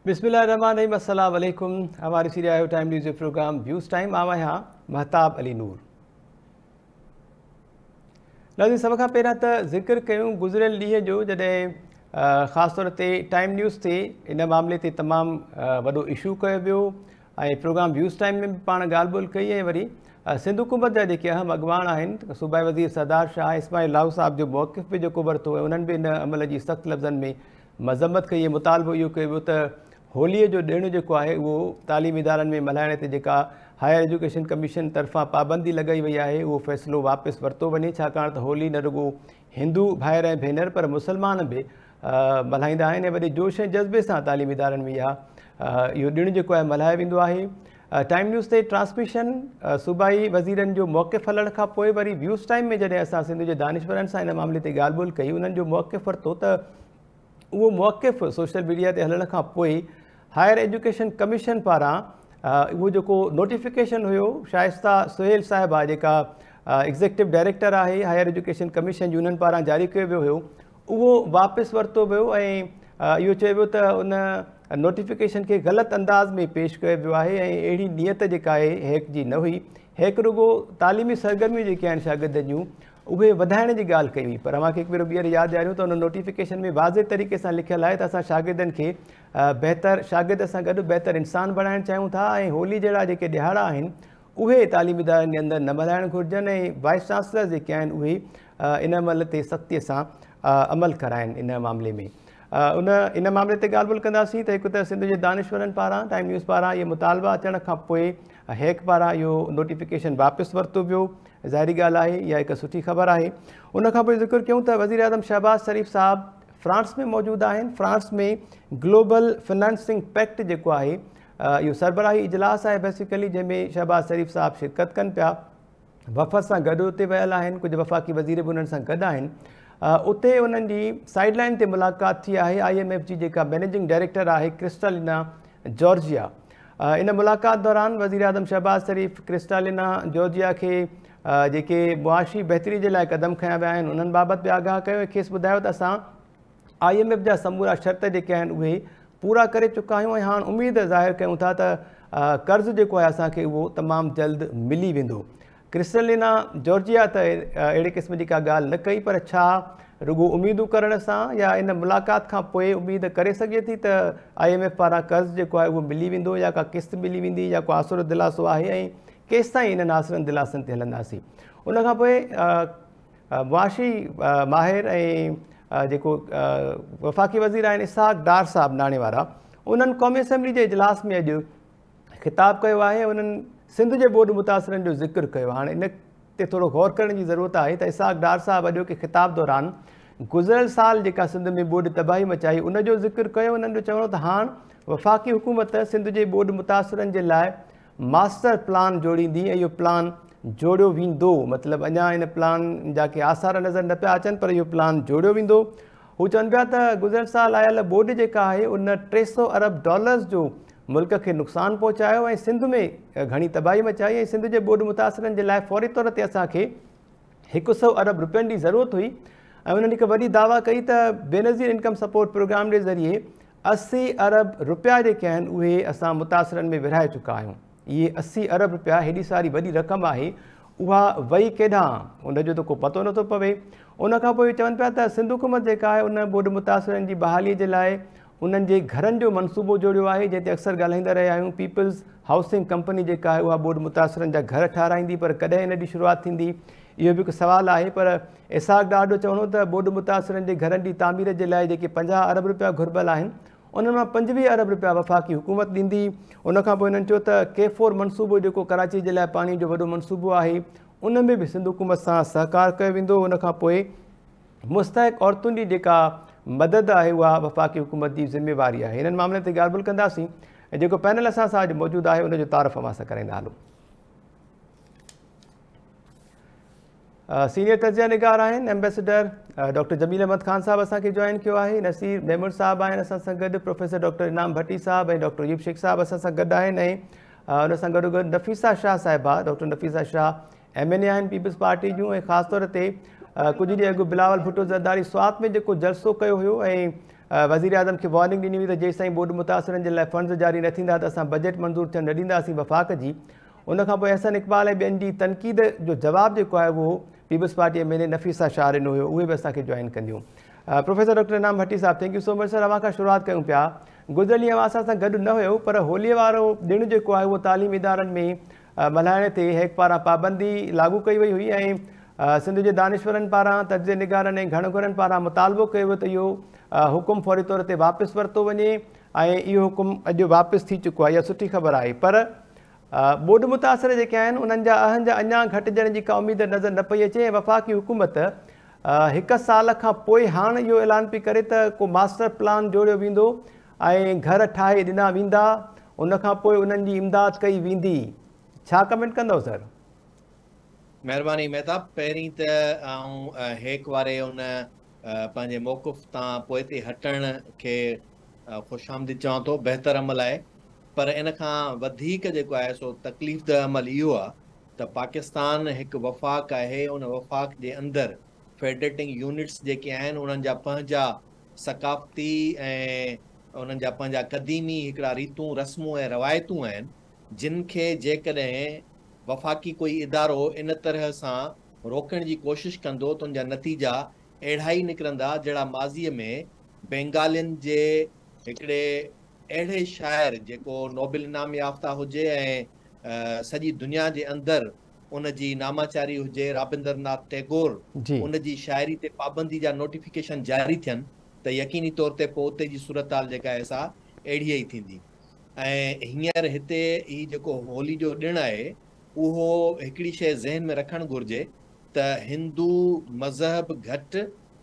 بسم الله الرحمن الرحيم السلام عليڪم اوهان ڏسي رهيا آهيو ٽائيم نيوز جو پروگرام ويوز ٽائيم آء آهيان مهتاب علي نور ناظرين سڀ کان پهريان ته ذڪر ڪيون گذريل ڏينهن جو جڏهن خاص طور تي ٽائيم نيوز تي ان معاملي تي تمام وڏو اشو ڪيو ويو ۽ پروگرام ويوز ٽائيم ۾ به پاڻ ڳالهه ٻولهه ڪئي ۽ وري سنڌ حڪومت جا جيڪي اهم اڳواڻ آهن صوبائي وزير سردار شاهه ۽ اسماعيل لاهو صاحب جو موقف به جيڪو ورتو ۽ انهن به ان عمل جي سخت لفظن ۾ مذمت ڪئي ۽ مطالبو اهو ڪيو ويو ته هوليء جو ڏڻ جيڪو آهي اهو تعليمي ادارن ۾ ملهائڻ تي جيڪا هائر ايجوڪيشن ڪميشن طرفان پابندي لڳائي وئي آهي اهو فيصلو واپس ورتو وڃي ڇاڪاڻ ته هولي نه رڳو هندو ڀائر ۽ ڀينر پر مسلمان به ملهائيندا آهن ۽ وڏي جوش ۽ جذبي سان تعليمي ادارن ۾ اهو ڏڻ جيڪو آهي ملهايو ويندو آهي ٽائيم نيوز تي ٽرانسميشن صوبائي وزيرن جو موقف هلڻ کان پوء وري ويوز ٽائيم ۾ جڏهن اسان سنڌ جي دانشورن سان ان معاملي تي ڳالهه ٻولهه ڪئي انهن جو موقف ورتو ته اهو موقف سوشل ميڊيا تي هلڻ کان پوء هائر ايجوڪيشن ڪميشن پاران اهو جيڪو نوٽيفڪيشن هيو شائسته سهيل صاحبه جيڪا ايگزيڪٽو ڊائريڪٽر آهي هائر ايجوڪيشن ڪميشن جي انهن پاران جاري ڪيو ويو هيو اهو واپس ورتو ويو ۽ اهو چيو ويو ته ان نوٽيفڪيشن کي غلط انداز ۾ پيش ڪيو ويو آهي ۽ اهڙي نيت جيڪا آهي هيڪ جي نه هئي هيڪ رڳو تعليمي سرگرميون جيڪي آهن شاگردن جون اهي وڌائڻ جي ڳالهه ڪئي هئي پر اوهان کي هڪ ڀيرو ٻيهر ياد ڏياريون ته ان نوٽيفڪيشن ۾ واضح طريقي سان لکيل آهي ته اسان شاگردن کي بهتر شاگرد سان گڏ بهتر انسان بڻائڻ چاهيون ٿا ۽ هولي جهڙا جيڪي ڏهاڙا آهن اهي تعليمي ادارن جي اندر نه ملهائڻ گهرجن ۽ وائس چانسلر جيڪي آهن اهي ان عمل تي سختي سان عمل ڪرائن ان معاملي ۾ ان ان معاملي تي ڳالهه ٻولهه ڪنداسين ته هڪ ته سنڌ جي دانشورن پاران ٽائيم نيوز پاران اهي مطالبا اچڻ کان پوء هيڪ پاران اهو نوٽيفڪيشن واپس ورتو ويو ظاهري ڳالهه آهي اها هڪ سٺي خبر آهي. ان کان پوء ذڪر ڪيون ته وزيراعظم شهباز شريف صاحب فرانس ۾ موجود آهن، فرانس ۾ گلوبل فنانسنگ پيڪٽ جيڪو آهي اهو سربراهي اجلاس آهي بيسيڪلي جنهن ۾ شهباز شريف صاحب شرڪت ڪن پيا، وفد سان گڏ اتي ويل آهن، ڪجهه وفاقي وزير به انهن سان گڏ آهن، اتي انهن جي سائيڊ لائن تي ملاقات ٿي آهي آء ايم ايف جي جيڪا مينيجنگ ڊائريڪٽر آهي ڪرسٽالينا جارجيا. ان ملاقات دوران وزيراعظم شهباز شريف ڪرسٽالينا جورجيا کي جيڪي معاشي بهتري جي لاء قدم کنيا ويا آهن انهن بابت به آگاهه ڪيو ۽ کيس ٻڌايو ته اسان آء ايم ايف جا سمورا شرط جيڪي آهن اهي پورا ڪري چڪا آهيون ۽ هاڻ اميد ظاهر ڪيون ٿا ته قرض جيڪو آهي اسان کي اهو تمام جلد ملي ويندو ڪرسٽلينا جورجيا ته اهڙي قسم جي ڪا ڳالهه نه ڪئي پر ڇا رڳو اميدون ڪرڻ سان يا ان ملاقات کان پوء اميد ڪري سگهجي ٿي ته آء ايم ايف پاران قرض جيڪو آهي اهو ملي ويندو يا ڪا قسط ملي ويندي يا ڪو آسرو دلاسو آهي ۽ ڪيستائين انهن آسرن دلاسن تي هلنداسين ان کان پوء معاشي ماهر ۽ جيڪو وفاقي وزير آهن اسحاق ڊار صاحب ناڻي وارا انهن قومي اسيمبلي جي اجلاس ۾ اڄ خطاب ڪيو آهي ۽ انهن سنڌ جي ٻوڏ متاثرن جو ذڪر ڪيو. هاڻ ان تي ٿورو غور ڪرڻ جي ضرورت آهي ته اسحاق ڊار صاحب اڄوڪي خطاب دوران گذريل سال جيڪا سنڌ ۾ ٻوڏ تباهي مچائي ان جو ذڪر ڪيو انهن جو چوڻ هو ته هاڻ وفاقي حڪومت سنڌ جي ٻوڏ متاثرن جي لاء ماسٽر پلان جوڙيندي ۽ اهو پلان جوڙيو ويندو مطلب اڃا ان پلان جا ڪي آثار نظر نه پيا اچن پر اهو پلان جوڙيو ويندو هو چون پيا ته گذريل سال آيل ٻوڏ جيڪا آهي ان ٽي سؤ ارب ڊالرز جو ملڪ کي نقصان پهچايو ۽ سنڌ ۾ گهڻي تباهي مچائي ۽ سنڌ جي ٻوڏ متاثرن جي لاء فوري طور تي اسان کي هڪ سؤ ارب روپين جي ضرورت هئي ۽ انهن هڪ وڏي دعويٰ ڪئي ته بينظير انڪم سپورٽ پروگرام جي ذريعي اسي ارب روپيا جيڪي آهن اهي اسان متاثرن ۾ ورهائي چڪا آهيون. اهي اسي ارب رپيا هيڏي ساري وڏي رقم آهي، اها وئي ڪيڏانهن؟ ان جو ته ڪو پتو نٿو پوي. ان کان پوء اهي چون پيا ته سنڌ حڪومت جيڪا آهي ان ٻوڏ متاثرن جي بحالي جي لاء انهن جي گهرن جو منصوبو جوڙيو آهي، جنهن تي اڪثر ڳالهائيندا رهيا آهيون. پيپلز هائوسنگ ڪمپني جيڪا آهي اها ٻوڏ متاثرن جا گهر ٺهرائيندي پر ڪڏهن ان جي شروعات ٿيندي؟ اهو به هڪ سوال آهي پر اسحاق ڊار جو چوڻ هو ته ٻوڏ متاثرن جي گهرن جي تعمير جي لاء جيڪي پنجاهه ارب رپيا گهربل آهن، انهن مان پنجويهه ارب رپيا وفاقي حڪومت ڏيندي. ان کانپوء هنن چيو ته ڪي فور منصوبو جيڪو ڪراچي جي لاء پاڻي جو وڏو منصوبو آهي ان ۾ به سنڌ حڪومت سان سهڪار ڪيو ويندو ان کانپوء مستحق عورتن جي جيڪا مدد آهي اها وفاقي حڪومت جي ذميواري آهي انهن معاملن تي ڳالهه ٻولهه ڪنداسين ۽ جيڪو پينل اسان سان اڄ موجود آهي ان جو تعارف اوهان سان ڪرائيندا هلون. سينيئر تجزيه نگار آهن ايمبيسڊر ڊاڪٽر جميل احمد خان صاحب اسان کي جوائن ڪيو آهي نصير ميمڻ صاحب آهن اسان سان گڏ پروفيسر ڊاڪٽر انعام ڀٽي صاحب ۽ ڊاڪٽر يوب شيخ صاحب اسان سان گڏ آهن ۽ ان سان گڏو گڏ نفيسا شاهه صاحبه doctor Nafisa Shah M N A آهن پيپلز پارٽي جون ۽ خاص طور تي ڪجهه ڏينهن اڳ بلاول ڀٽو زرداري سوات ۾ جيڪو جلسو ڪيو هيو ۽ وزير اعظم کي وارننگ ڏني هئي ته جيسين ٻوڏ متاثرن جي لاء فنڊز جاري نه ٿيندا ته اسان بجيٽ منظور ٿيڻ نه ڏينداسين وفاق جي ان کان پوء احسن اقبال ۽ ٻين جي تنقيد جو جواب جيڪو آهي اهو Peoples Party M N A Nafisa Shah ڏنو هيو اهي به اسان کي جوائن ڪنديون پروفيسر ڊاڪٽر انعام ڀٽي صاحب thank you so much sir اوهان کان شروعات ڪيون پيا گذريل ڏينهن اوهان اسان سان گڏ نه هيو پر هولي وارو ڏڻ جيڪو آهي اهو تعليم ادارن ۾ ملهائڻ تي هيڪ پاران پابندي لاڳو ڪئي وئي هئي ۽ سنڌ جي دانشورن پاران تجزي نگارن ۽ گهڻ گهرن پاران مطالبو ڪيو ويو ته اهو حڪم فوري طور تي واپس ورتو وڃي ۽ اهو حڪم اڄ واپس ٿي چڪو آهي اها سٺي خبر آهي پر ٻوڏ متاثر جيڪي آهن انهن جا اهنج اڃان گهٽجڻ جي ڪا اميد نظر نه پئي اچي ۽ وفاقي حڪومت هڪ سال کان پوء هاڻ اهو اعلان پئي ڪري ته ڪو ماسٽر پلان جوڙيو ويندو ۽ گهر ٺاهي ڏنا ويندا ان کان پوء انهن جي امداد ڪئي ويندي ڇا ڪمينٽ ڪندؤ سر. مهرباني مهتاب پهرين ته آئون هيڪ واري ان پنهنجي موقف تان پوئتي هٽڻ کي خوش آمديد چوان ٿو، بهتر عمل آهي، پر ان کان وڌيڪ جيڪو آهي سو تڪليف ده عمل اهو آهي ته پاڪستان هڪ وفاق آهي، ان وفاق جي اندر فيڊريٽنگ يونٽس جيڪي آهن انهن جا پنهنجا ثقافتي ۽ انهن جا پنهنجا قديمي هڪڙا ريتون رسمون ۽ روايتون آهن جن کي جيڪڏهن وفاقي ڪوئي ادارو ان طرح سان روڪڻ جي ڪوشش ڪندو ته ان جا نتيجا اهڙا ئي نڪرندا جهڙا ماضيء ۾ بينگالين جي هڪڙي اهڙي شاعر جيڪو نوبل انعام يافته هجي ۽ سڄي دنيا جي اندر ان جي ناماچاري هجي رابندر ناٿ ٽيگور ان جي شاعري تي پابندي جا نوٽيفڪيشن جاري ٿين ته يقيني طور تي پوء اتي جي صورتحال جيڪا آهي سا اهڙيء ئي ٿيندي ۽ هينئر هتي هي جيڪو هولي جو ڏڻ آهي اهو هڪڙي شيء ذهن ۾ رکڻ گهرجي ته هندو مذهب گهٽ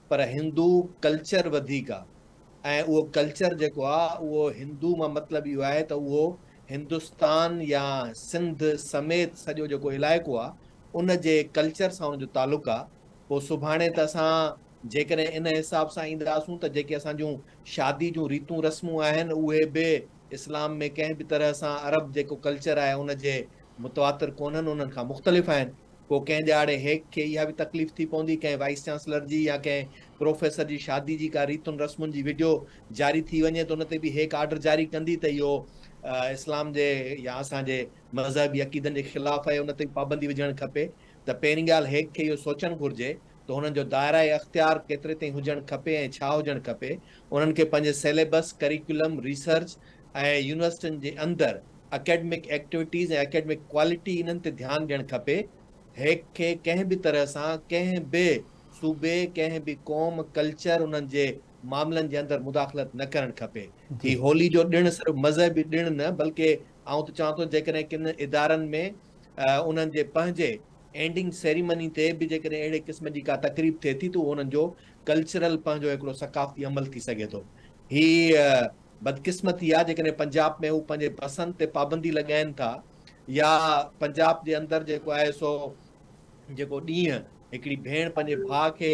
پر هندو ڪلچر وڌيڪ آ ۽ اهو ڪلچر جيڪو آ اهو هندو مان مطلب اهو آهي ته اهو هندستان يا سنڌ سميت سڄو جيڪو علائقو آ ان جي ڪلچر سان ان جو تعلق آ پوء سڀاڻي ته اسان جيڪڏهن ان حساب سان اينداسون ته جيڪي اسان جون شادي جون ريتون رسمون آهن اهي به اسلام ۾ ڪنهن به طرح سان عرب جيڪو ڪلچر آهي ان جي متواتر ڪونهن انهن کان مختلف آهن پوء ڪنهن ڏهاڙي هيڪ کي اها به تڪليف ٿي پوندي ڪنهن وائيس چانسلر جي يا ڪنهن پروفيسر جي شادي جي ڪا ريتن رسمن جي وڊيو جاري ٿي وڃي ته ان تي به هيڪ آرڊر جاري ڪندي ته اهو اسلام جي يا اسان جي مذهبي عقيدن جي خلاف آهي ان تي پابندي وجهڻ کپي ته پهرين ڳالهه هيڪ کي اهو سوچڻ گهرجي ته هنن جو دائره اختيار ڪيتري تائين هجڻ کپي ۽ ڇا هجڻ کپي، انهن کي پنهنجي سيليبس، ڪريڪولم، ريسرچ ۽ يونيورسٽين جي اندر اڪيڊمڪ ايڪٽيوٽيز ۽ اڪيڊمڪ ڪوالٽي انهن تي ڌيان ڏيڻ کپي، هيڪ کي ڪنهن به طرح سان ڪنهن به صوبي، ڪنهن به قوم، ڪلچر انهن جي معاملن جي اندر مداخلت نه ڪرڻ کپي، هي هولي جو ڏڻ صرف مذهبي ڏڻ نه بلڪه آئون ته چوان ٿو جيڪڏهن ڪن ادارن ۾ انهن جي پنهنجي اينڊنگ سيريمني تي به جيڪڏهن اهڙي قسم جي ڪا تقريب ٿئي ٿي ته اهو انهن جو ڪلچرل پنهنجو هڪڙو ثقافتي عمل ٿي سگهي ٿو. هي بدقسمتي آهي جيڪڏهن پنجاب ۾ هو پنهنجي پسند تي پابندي لڳائين ٿا يا پنجاب جي اندر جيڪو آهي سو جيڪو ڏينهن هڪڙي ڀيڻ پنهنجي ڀاء کي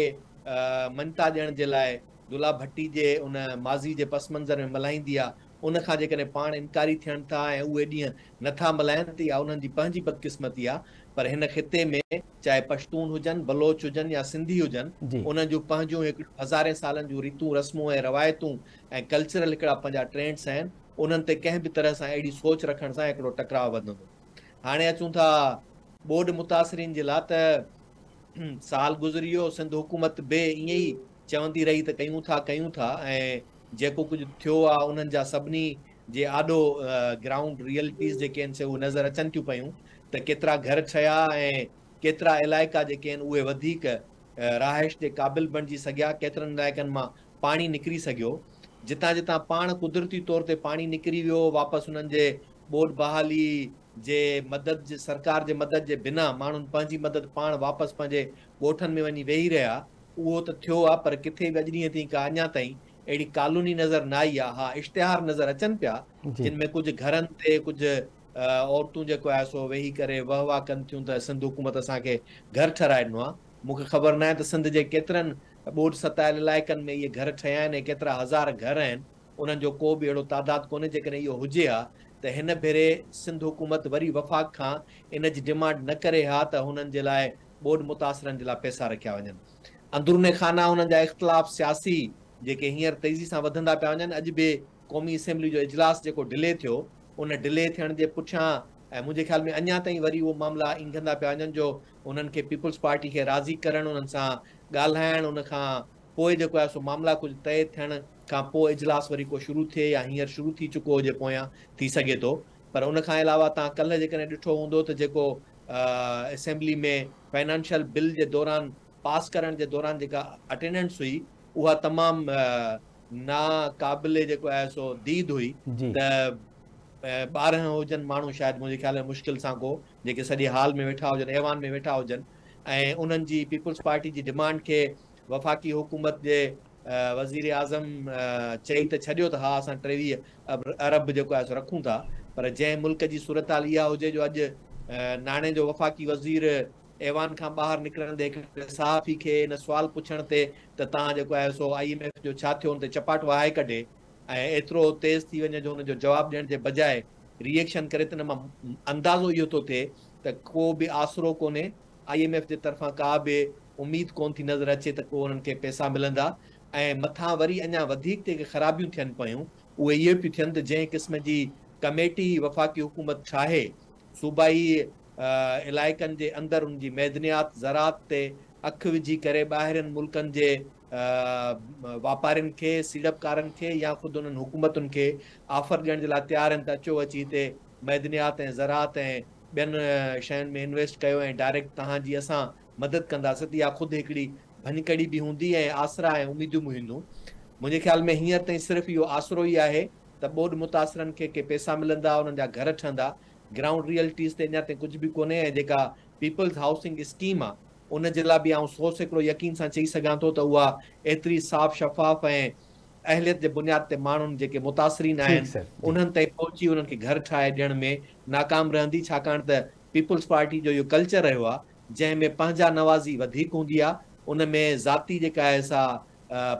مڃتا ڏيڻ جي لاء دلها ڀٽي جي ان ماضي جي پس منظر ۾ ملهائيندي آهي ان کان جيڪڏهن پاڻ انڪاري ٿين ٿا ۽ اهي ڏينهن نه ٿا ملهائين ته اها انهن جي پنهنجي بدقسمتي آهي پر هن خطي ۾ چاهي پشتون هجن، بلوچ هجن يا سنڌي هجن انهن جون پنهنجون هڪڙيون هزارين سالن جون ريتون رسمون ۽ روايتون ۽ ڪلچرل هڪڙا پنهنجا ٽرينڊس آهن انهن تي ڪنهن به طرح سان اهڙي سوچ رکڻ سان هڪڙو ٽڪراء وڌندو. هاڻي اچون ٿا ٻوڏ متاثرين جي لاء ته سال گذري ويو سنڌ حڪومت به ائين ئي چوندي رهي ته ڪيون ٿا ڪيون ٿا ۽ جيڪو ڪجهه ٿيو آ انهن جا سڀني جي آڏو گرائونڊ ريئلٽيز جيڪي آهن سي اهي نظر اچن ٿيون پيون ته ڪيترا گهر ٺهيا ۽ ڪيترا علائقا جيڪي آهن اهي وڌيڪ رهائش جي قابل بڻجي سگهيا ڪيترن علائقن مان پاڻي نڪري سگهيو جتان جتان پاڻ قدرتي طور تي پاڻي نڪري ويو واپس انهن جي ٻوڏ بحالي جي مدد جي سرڪار جي مدد جي بنا ماڻهن پنهنجي مدد پاڻ واپس پنهنجي ڳوٺن ۾ وڃي ويهي رهيا اهو ته ٿيو آ پر ڪٿي به اڄ ڏينهن تائين ڪا اڃا تائين اهڙي ڪالوني نظر نه آئي آ ها اشتهار نظر اچن پيا جن ۾ ڪجهه گهرن تي ڪجهه عورتون جيڪو آهي سو ويهي ڪري وهه واه ڪن ٿيون ته سنڌ حڪومت اسان کي گهر ٺهرائي ڏنو آ مون کي خبر ناهي ته سنڌ جي ڪيترن ٻوڏ ستايل علائقن ۾ اهي گهر ٺهيا آهن ۽ ڪيترا هزار گهر آهن انهن جو ڪو به اهڙو تعداد ڪونهي، جيڪڏهن اهو هجي ها ته هن ڀيري سنڌ حڪومت وري وفاق کان ان جي ڊيمانڊ نه ڪري ها ته هنن جي لاء ٻوڏ متاثرن جي لاء پئسا رکيا وڃن. اندروني خانه انهن جا اختلاف سياسي جيڪي هينئر تيزي سان وڌندا پيا وڃن، اڄ به قومي اسيمبلي جو اجلاس جيڪو ڊلي ٿيو، ان ڊلي ٿيڻ جي پٺيان ۽ منهنجي خيال ۾ اڃا تائين وري اهو معاملا اينگهندا پيا وڃن جو انهن کي پيپلز پارٽي کي راضي ڪرڻ، انهن سان ڳالهائڻ، ان کان پوء جيڪو آهي سو معاملا ڪجهه طئي ٿيڻ کان پوء اجلاس وري ڪو شروع ٿئي يا هينئر شروع ٿي چڪو هجي پويان ٿي سگهي ٿو پر ان کان علاوه توهان ڪلهه جيڪڏهن ڏٺو هوندو ته جيڪو اسيمبلي ۾ فنانشل بل جي دوران پاس ڪرڻ جي دوران جيڪا اٽينڊنس هئي اها تمام نا قابل جيڪو آهي سو ديد هئي ته ٻارهن هجن ماڻهو شايد منهنجي خيال ۾ مشڪل سان ڪو جيڪي سڄي هال ۾ ويٺا هجن ايوان ۾ ويٺا هجن ۽ انهن جي پيپلز پارٽي جي ڊمانڊ کي وفاقي حڪومت جي وزيراعظم چئي ته ڇڏيو ته ها اسان ٽيويهه ارب جيڪو آهي سو رکون ٿا پر جنهن ملڪ جي صورتحال اها هجي جو اڄ ناڻي جو وفاقي وزير ايوان کان ٻاهر نڪرندي هڪ صحافي کي ان سوال پڇڻ تي ته توهان جيڪو آهي سو آئي ايم ايف جو ڇا ٿيو ان تي چپاٽ وهائي ڪڍي ۽ ايترو تيز ٿي وڃي جو ان جو جواب ڏيڻ جي بجاء ري ايڪشن ڪري ته ان مان اندازو اهو ٿو ٿئي ته ڪو به آسرو ڪونهي آء ايم ايف جي طرفان ڪا به اميد ڪونه ٿي نظر اچي ته ڪو انهن کي پئسا ملندا ۽ مٿان وري اڃا وڌيڪ جيڪي خرابيون ٿين پيون اهي اهو پيون ٿين ته جنهن قسم جي ڪميٽي وفاقي حڪومت ٺاهي صوبائي علائقن جي اندر ان جي معدنيات زراعت تي اک وجهي ڪري ٻاهرين ملڪن جي واپارين کي سيڙپڪارن کي يا خود انهن حڪومتن کي آفر ڏيڻ جي لاء تيار آهن ته اچو اچي هتي معدنيات ۽ زراعت ۽ ٻين شين ۾ انويسٽ ڪيو ۽ ڊائريڪٽ توهان جي اسان مدد ڪنداسين ته اها خود هڪڙي ڀڃڪڙي به هوندي ۽ آسرا ۽ اميدون به هونديون. منهنجي خيال ۾ هينئر تائين صرف اهو آسرو ئي آهي ته ٻوڏ متاثرن کي ڪي پئسا ملندا، انهن جا گهر ٺهندا. گرائونڊ ريئلٽيز تي اڃا تائين ڪجهه به ڪونهي ۽ جيڪا پيپلز هائوسنگ اسڪيم آهي ان جي لاء به آئون سو سيڪڙو يقين سان چئي سگهان ٿو ته اها ايتري صاف شفاف ۽ اهليت جي بنياد تي ماڻهن جيڪي متاثرين آهن انهن تائين پهچي انهن کي گهر ٺاهي ڏيڻ ۾ ناڪام رهندي ڇاڪاڻ ته پيپلز پارٽي جو اهو ڪلچر رهيو آهي جنهن ۾ پنهنجا نوازي وڌيڪ هوندي آهي ان ۾ ذاتي جيڪا آهي سا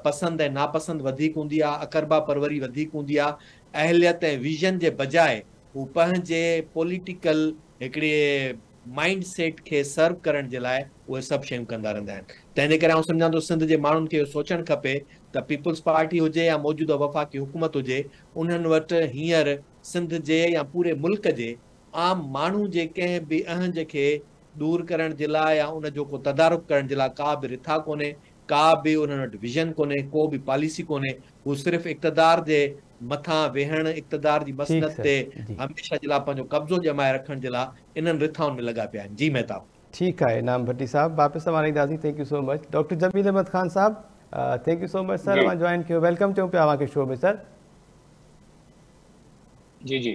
پسند ۽ ناپسند وڌيڪ هوندي آهي اقربا پروري وڌيڪ هوندي آهي اهليت ۽ ويزن جي بجاء هو پنهنجي پوليٽيڪل هڪڙي مائينڊ سيٽ کي سرو ڪرڻ جي لاء اهي سڀ شيون ڪندا رهندا آهن تنهن جي ڪري آئون سمجهان ٿو سنڌ جي ماڻهن کي اهو سوچڻ کپي ته پيپلز پارٽي هجي يا موجوده وفاقي حڪومت هجي انهن وٽ هينئر سنڌ جي يا پوري ملڪ جي عام ماڻهو جي ڪنهن به اهنج کي دور ڪرڻ جي لاء يا ان جو ڪو تدارڪ ڪرڻ جي لاء ڪا به رٿا ڪونهي ڪا به انهن وٽ ويزن ڪونهي، ڪو به پاليسي ڪونهي، هو صرف اقتدار جي مٿان ويهڻ، اقتدار جي مسند تي هميشه جي لاء پنهنجو قبضو ڄمائي رکڻ جي لاء انهن رٿائن ۾ لڳا پيا آهن. جي مهتاب. ٺيڪ آهي انعام ڀٽي صاحب واپس اوهان اينداسين thank you so much doctor Jamil Ahmed Khan صاحب thank you so much sir اوهان جوائن ڪيو ويلڪم چئون پيا اوهان کي شو ۾ سر جي جي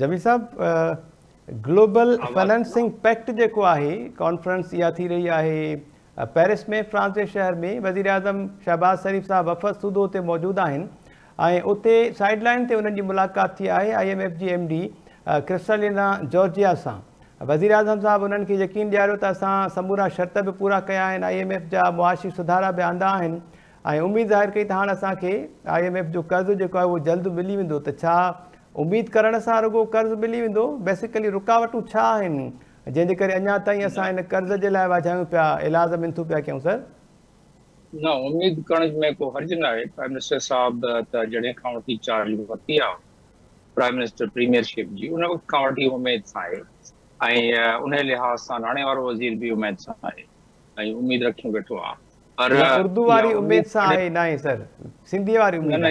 جميل صاحب گلوبل فنانسنگ پيڪٽ جيڪو آهي ڪانفرنس اها ٿي رهي آهي پيرس ۾ فرانس جي شهر ۾ وزيراعظم شهباز شريف سان وفد سوڌو تي موجود آهن ۽ اتي سائيڊ لائين تي انهن جي ملاقات ٿي آهي آئي ايم ايف جي ايم ڊي ڪرسٽالينا جارجيا سان وزيراعظم صاحب انهن کي يقين ڏياريو ته اسان سمورا شرط به پورا ڪيا آهن آئي ايم ايف جا معاشي سڌارا به آندا آهن ۽ اميد ظاهر ڪئي ته هاڻ اسان کي آئي ايم ايف جو قرض جيڪو آهي اهو جلد ملي ويندو ته ڇا اميد ڪرڻ سان رڳو قرض ملي ويندو بيسيڪلي رڪاوٽون ڇا آهن جنهن جي ڪري اڃا تائين اسان هن قرض جي لاء واجهايون پيا، ايلاز منٿون پيا ڪيون سر. نه اميد ڪرڻ ۾ ڪو حرج ناهي، پرائم منسٽر صاحب ته جڏهن کان وٺي چارج ورتي آهي پرائم منسٽر پريميئر شپ جي ان وقت کان وٺي اميد سان آهي ۽ انهي لحاظ سان ناڻي وارو وزير به اميد سان آهي ۽ اميد رکيون ويٺو آهي پر اردو واري اميد سان آهي ناهي سر سنڌي واري اميد نه نه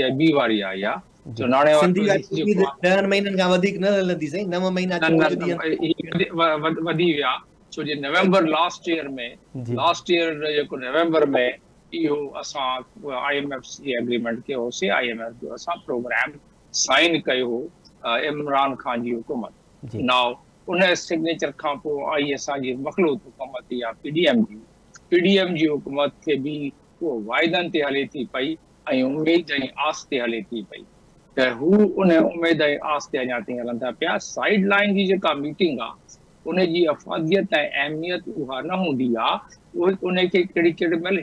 هي بي واري آهي اها جو ناڻي وارو سنڌي عيد جو عيد ڪوانٽم ڏهن مهينن کان وڌيڪ نه هلندي سائين نو مهينا نه چوڏهن نه ڏينهن ڀاء هي وڌي وڌ وڌي ويا ڇو جي نومبر لاسٽ ايئر ۾ جي لاسٽ ايئر جيڪو نومبر ۾ اهو اسان آء ايم ايف سي ايگريمنٽ ڪيو هوسي آء ايم ايف جو اسان پروگرام سائين ڪيو هو عمران خان جي حڪومت جي ناو ان سگنيچر کان پوء آئي اسان جي مخلوط حڪومت يا پي ڊي ايم جي پي ڊي ايم جي حڪومت کي به اهو واعدن تي هلي ٿي پئي ۽ اميد ۽ آس تي هلي ٿي پئي ته هو ان اميد ۽ آس تي اڃا تائين هلن ٿا پيا. سائيڊ لائين جي جيڪا ميٽنگ آ ان جي افاديت ۽ اهميت اها نه هوندي آ اهي انهي کي ڪهڙي ڪهڙي مهل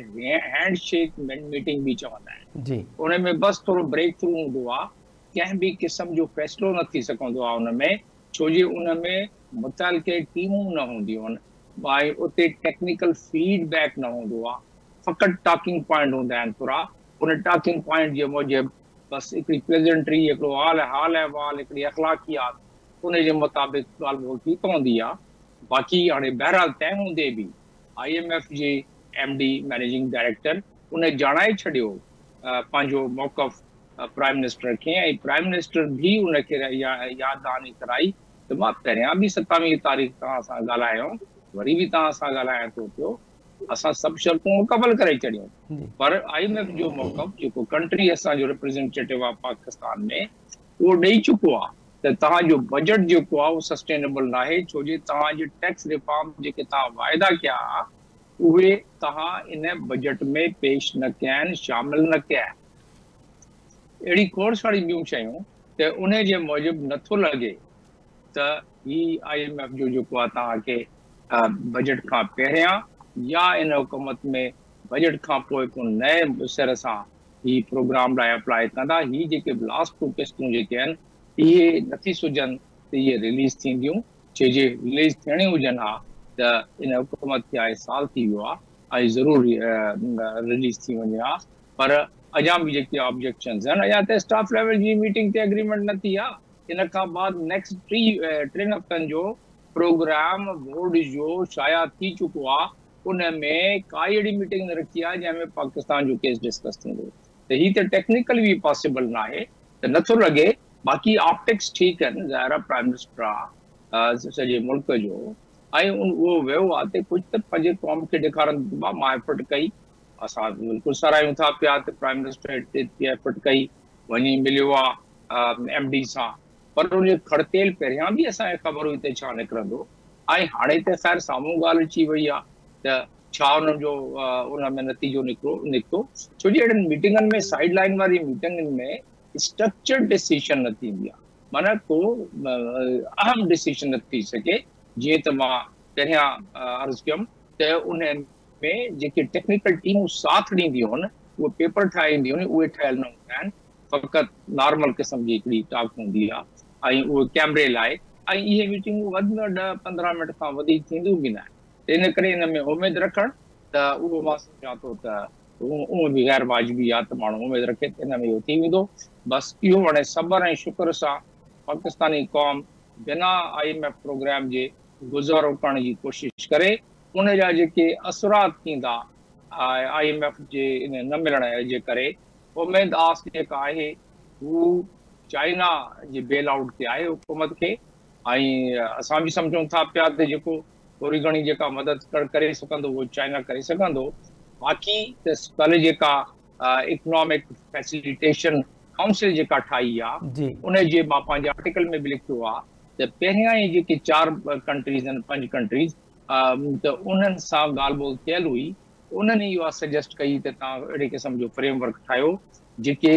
هينڊ شيڪ ميٽنگ به چوندا آهن انهي ۾ بس ٿورو بريڪ ٿرو هوندو آ ڪنهن به قسم جو فيصلو نه ٿي سگهندو آ ان ۾ ڇو جي ان ۾ متعلقي ٽيمون نه هونديون آهن ۽ اتي ٽيڪنيڪل فيڊ بيڪ نه هوندو آهي فقط ٽاڪنگ پوائنٽ هوندا آهن پورا ان ٽاڪنگ پوائنٽ جي موجب بس هڪڙي پريزنٽري هڪڙو حال حال احوال هڪڙي اخلاقيات ان جي مطابق ڳالهه ٻولهه ٿي پوندي آهي باقي هاڻي بهرحال تنهن هوندي به آء ايم ايف جي ايم ڊي مئنيجنگ ڊائريڪٽر ان ڄاڻائي ڇڏيو پنهنجو موقف پرائم منسٽر کي ۽ پرائم منسٽر به ان کي ياد دهاني ڪرائي ته مان پهريان به ستاويهه تاريخ توهان سان ڳالهايو هوم وري به توهان سان ڳالهايان ٿو پيو اسان سڀ شرطون مڪمل ڪري ڇڏيون پر آء ايم ايف جو موقف جيڪو ڪنٽري اسان جو ريپريزنٽيٽو آف پاڪستان ۾ اهو ڏئي چڪو آهي ته توهان جو بجيٽ جيڪو آهي اهو سسٽينبل ناهي ڇو جي توهان جي ٽيڪس ريفارم جيڪي توهان واعدا ڪيا ها اهي توهان ان بجيٽ ۾ پيش نه ڪيا آهن، شامل نه ڪيا آهن. اهڙي کوڙ ساري ٻيون شيون ته انهي جي موجب نه ٿو لڳي ته هي آء ايم ايف جو جيڪو آهي توهان کي بجيٽ کان پهريان يا ان حڪومت ۾ بجيٽ کان پوء ڪو نئين سر سان هي پروگرام لاء اپلاء ڪندا. هي جيڪي لاسٽ ٽو قسطون جيڪي آهن اهي نٿي سجهن ته اهي رليز ٿينديون. ڇو جي رليز ٿيڻي هجن ها ته ان حڪومت کي آء سال ٿي ويو آ آء ضرور رليز ٿي وڃي ها پر اڄان به جيڪي آبجيڪشنز آهن اڄان ته اسٽاف ليول جي ميٽنگ تي اگريمينٽ نه ٿي آ ان کان بعد نيڪسٽ ٽي ٽن هفتن جو پروگرام بورڊ جو شايع ٿي چڪو آ ان ۾ ڪائي اهڙي ميٽنگ نه رکي آ جنهن ۾ پاڪستان جو ڪيس ڊسڪس ٿيندو ته هي ته ٽيڪنيڪل وي پاسيبل ناهي ته نه ٿو لڳي باقي آپٽڪس ٺيڪ آهن ظاهر آهي پرائيم منسٽر آهي سڄي ملڪ جو ۽ اهو ويو آهي ته ڪجهه ته پنهنجي قوم کي ڏيکارن ته ما ما ايفرٽ ڪئي اسان بلڪل ساراهيون ٿا پيا ته پرائيم منسٽر ايتري ايفرٽ ڪئي وڃي مليو آهي ايم ڊي سان پر ان جو کڙتيل پهريان به اسان کي خبر هئي ته ڇا نڪرندو ۽ هاڻي ته خير سامهون ڳالهه اچي وئي آهي ته ڇا ان جو ان ۾ نتيجو نڪرو نڪتو ڇو جي اهڙن ميٽنگن ۾ سائيڊ لائن واري ميٽنگن ۾ اسٽرڪچر ڊيسيشن نه ٿيندي آهي معنيٰ ڪو اهم ڊيسيشن نه ٿي سگهي جيئن ته مان پهريان عرض ڪيم ته ان ۾ جيڪي ٽيڪنيڪل ٽيمون ساٿ ڏينديون آهن اهي پيپر ٺاهي اينديون آهن اهي ٺهيل نه هوندا آهن فقط نارمل قسم جي هڪڙي ٽاڪ هوندي آهي ۽ اهو ڪيمري لاء ۽ اهي ميٽنگون وڌ ۾ وڌ ڏهه پندرهن منٽ کان وڌيڪ ٿينديون به ناهن ته ان ڪري ان ۾ اميد رکڻ ته اهو مان سمجهان ٿو ته اهو به غير واجبي آهي ته ماڻهو اميد رکي ته ان ۾ اهو ٿي ويندو بس اهو هاڻي صبر ۽ شڪر سان پاڪستاني قوم بنا آء ايم ايف پروگرام جي گذارو ڪرڻ جي ڪوشش ڪري ان جا جيڪي اثرات ٿيندا آء ايم ايف جي ان نه ملڻ جي ڪري اميد آس جيڪا آهي هو چائنا جي بيل آئوٽ تي آهي حڪومت کي ۽ اسان به سمجهون ٿا پيا ته جيڪو ٿوري گهڻي جيڪا مدد ڪري سگهندو اهو چائنا ڪري سگهندو باقي ته ڪل جيڪا اڪنامڪ فيسليٽيشن ڪائونسل جيڪا ٺاهي آ جي ان جي مان پنهنجي آرٽيڪل ۾ به لکيو آ ته پهريان ئي جيڪي چار ڪنٽريز آهن پنج ڪنٽريز ته انهن سان ڳالهه ٻولهه ٿيل هئي انهن ئي اها سجيسٽ ڪئي ته توهان اهڙي قسم جو فريم ورڪ ٺاهيو جيڪي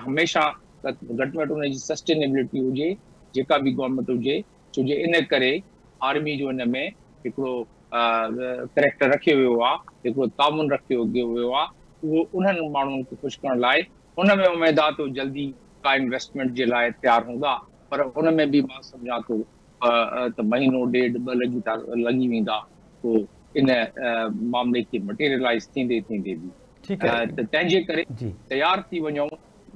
هميشه گهٽ ۾ گهٽ ان جي سسٽينيبلٽي هجي جيڪا به گورنمينٽ هجي ڇو جو ان ڪري آرمي جو ان ۾ هڪڙو ڪريڪٽر رکيو ويو آهي هڪڙو تعاون رکيو ويو آهي اهو انهن ماڻهن کي خوش ڪرڻ لاء ان ۾ اميد آهي ته جلدي ڪا انويسٽمينٽ جي لاء تيار هوندا پر ان ۾ به مان سمجهان ٿو ته مهينو ڏيڍ ٻه لڳي ٿا لڳي ويندا پوء ان معاملي کي مٽيريلائيز ٿيندي ٿيندي به ته تنهن جي ڪري تيار ٿي وڃون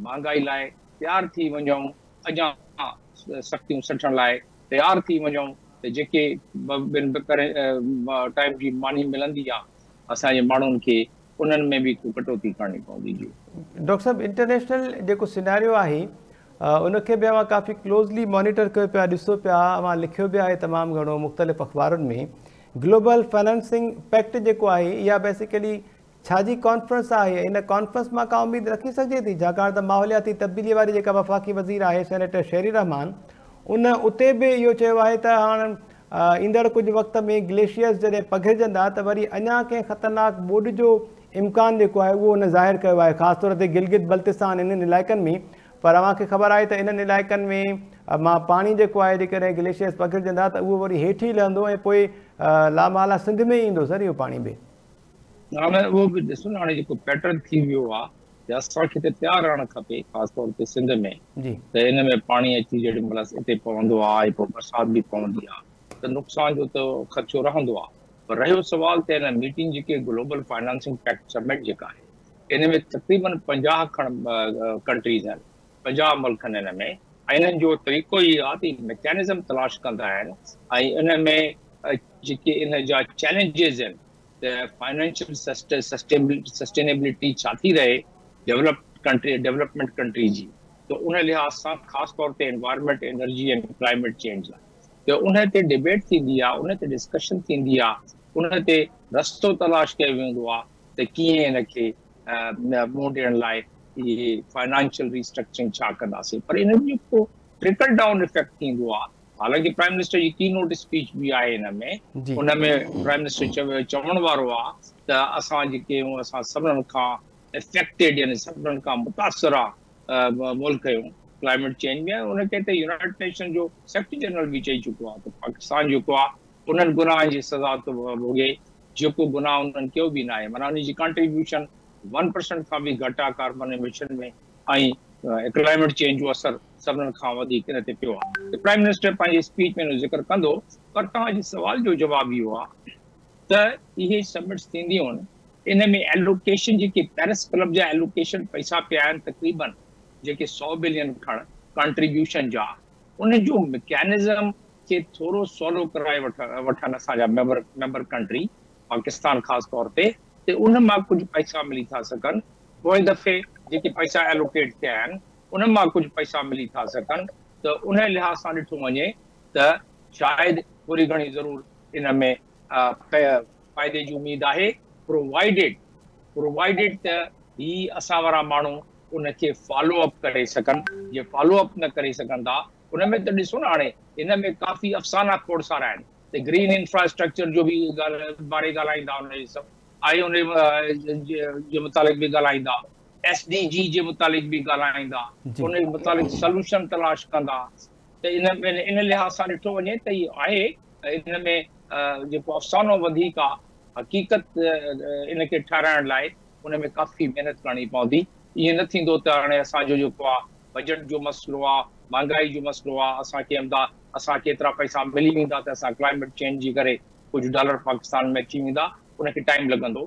مهانگائي لاء تيار ٿي وڃون اڃان سختيون سٺڻ لاء تيار ٿي وڃون ته جيڪي ٽائيم جي ماني ملندي آهي اسان جي ماڻهن کي انهن ۾ به ڪو ڪٽوتي ڪرڻي پوندي جي. ڊاڪٽر صاحب انٽرنيشنل جيڪو سيناريو آهي ان کي به اوهان ڪافي ڪلوزلي مانيٽر ڪيو پيا ڏسو پيا اوهان لکيو به آهي تمام گهڻو مختلف اخبارن ۾ گلوبل فنانسنگ پيڪٽ جيڪو آهي اها بيسيڪلي ڇا جي ڪانفرنس آهي ۽ ان ڪانفرنس مان ڪا اميد رکي سگهجي ٿي ڇاڪاڻ ته ماحولياتي تبديلي واري جيڪا وفاقي وزير آهي سينيٽر شيري رحمان ان اتي به اهو چيو آهي ته هاڻ ايندڙ ڪجهه وقت ۾ گليشيئرز جڏهن پگهرجندا ته وري اڃا ڪنهن خطرناڪ ٻوڏ جو امڪان جيڪو آهي اهو هن ظاهر ڪيو آهي خاص طور تي گلگت بلتستان انهن علائقن ۾ پر اوهان کي خبر آهي ته انهن علائقن ۾ مان پاڻي جيڪو آهي جيڪڏهن گليشيئرز پگهرجندا ته اهو وري هيٺي لهندو ۽ پوء لا محاله سنڌ ۾ ئي ايندو سر اهو پاڻي به. هاڻي اهو به ڏسو نه هاڻي جيڪو پيٽرن ٿي ويو آهي. ته اسان کي ته پيار رهڻ کپي خاص طور تي سنڌ ۾ ته ان ۾ پاڻي اچي جيڏي مهل اتي پوندو آهي ۽ پوء برسات به پوندي آهي ته نقصان جو ته خدشو رهندو آهي پر رهيو سوال ته ان ميٽنگ جيڪي گلوبل فنانسنگ پيڪٽ سمٽ جيڪا آهي ان ۾ تقريباً پنجاهه کڻ ڪنٽريز آهن پنجاهه ملڪ آهن ان ۾ ۽ انهن جو طريقو هي آهي ته ميڪانزم تلاش ڪندا آهن ۽ ان ۾ جيڪي ان جا چئلينجز آهن ته فائنانشل سسٽينيبلٽي ڇا ٿي رهي ڊولپڊ ڪنٽري ڊولپمينٽ ڪنٽري جي ته ان لحاظ سان خاص طور تي انوائرمينٽ انرجي ۽ ڪلائميٽ چينج لاء ته ان تي ڊبيٽ ٿيندي آهي ان تي ڊسڪشن ٿيندي آهي ان تي رستو تلاش ڪيو ويندو آهي ته ڪيئن ان کي منهن ڏيڻ لاء فائنانشل ري اسٽرڪچرنگ ڇا ڪنداسين پر ان جو ٽرڪل ڊائون افيڪٽ ٿيندو آهي حالانڪ پرائم منسٽر جي ڪي نوٽ اسپيچ به آهي ان ۾ ان ۾ پرائم منسٽر چيو چوڻ وارو آ ته اسان جيڪي آهيون اسان سڀنن کان افيڪٽيڊ يعني سڀنن کان متاثر آ ملڪ آهيون ڪلائميٽ چينج ۾ ان کي ته يونائٽيڊ نيشن جو سيڪريٽري جنرل به چئي چڪو آ ته پاڪستان جيڪو آ انهن گناهن جي سزا ٿو ڀوڳي جيڪو گناهه انهن ڪيو به ناهي معنيٰ ان جي ڪنٽريبيوشن ون پرسنٽ کان به گهٽ آ ڪاربن ايميشن ۾ ۽ ڪلائميٽ چينج جو اثر سڀنن کان وڌيڪ ان تي پيو آهي ته پرائم منسٽر پنهنجي اسپيچ ۾ ان جو ذڪر ڪندو پر توهان جي سوال جو جواب اهو آهي ته اهي سمٽس ٿينديون ان ۾ ايلوڪيشن جيڪي پيرس ڪلب جا ايلوڪيشن پئسا پيا آهن تقريبن جيڪي سؤ بلين کڻ ڪنٽريبيوشن جا ان جو مڪينزم کي ٿورو سولو ڪرائي وٺن اسان جا ميمبر ميمبر ڪنٽري پاڪستان خاص طور تي ته ان مان ڪجهه پئسا ملي ٿا سگهن پوئين دفعي جيڪي پئسا ايلوڪيٽ ٿيا آهن انهن مان ڪجهه پئسا ملي ٿا سگهن ته انهي لحاظ سان ڏٺو وڃي ته شايد ٿوري گهڻي ضرور ان ۾ فائدي جي اميد آهي پرووائيڊيڊ پرووائيڊيڊ ته هي اسان وارا ماڻهو ان کي فالو اپ ڪري سگهن جي فالو اپ نه ڪري سگهن ٿا ان ۾ ته ڏسو نه هاڻي ان ۾ ڪافي افسانا کوڙ سارا آهن ته گرين انفراسٽرڪچر جو به ڳالهه باري ڳالهائيندا ان جي سڀ آئي ان جي متعلق به ڳالهائيندا ايس ڊي جي جي متعلق به ڳالهائيندا، ان جي متعلق سلوشن تلاش ڪندا ته ان ۾ ان لحاظ سان ڏٺو وڃي ته هي آهي ان ۾ جيڪو افسانو وڌيڪ آهي حقيقت ان کي ٺهرائڻ لاء ان ۾ ڪافي محنت ڪرڻي پوندي ائين نه ٿيندو ته هاڻي اسان جو جيڪو آهي بجيٽ جو مسئلو آهي مهانگائي جو مسئلو آهي اسان کي امدا اسان کي ايترا پئسا ملي ويندا ته اسان ڪلائميٽ چينج جي ڪري ڪجهه ڊالر پاڪستان ۾ اچي ويندا ان کي ٽائيم لڳندو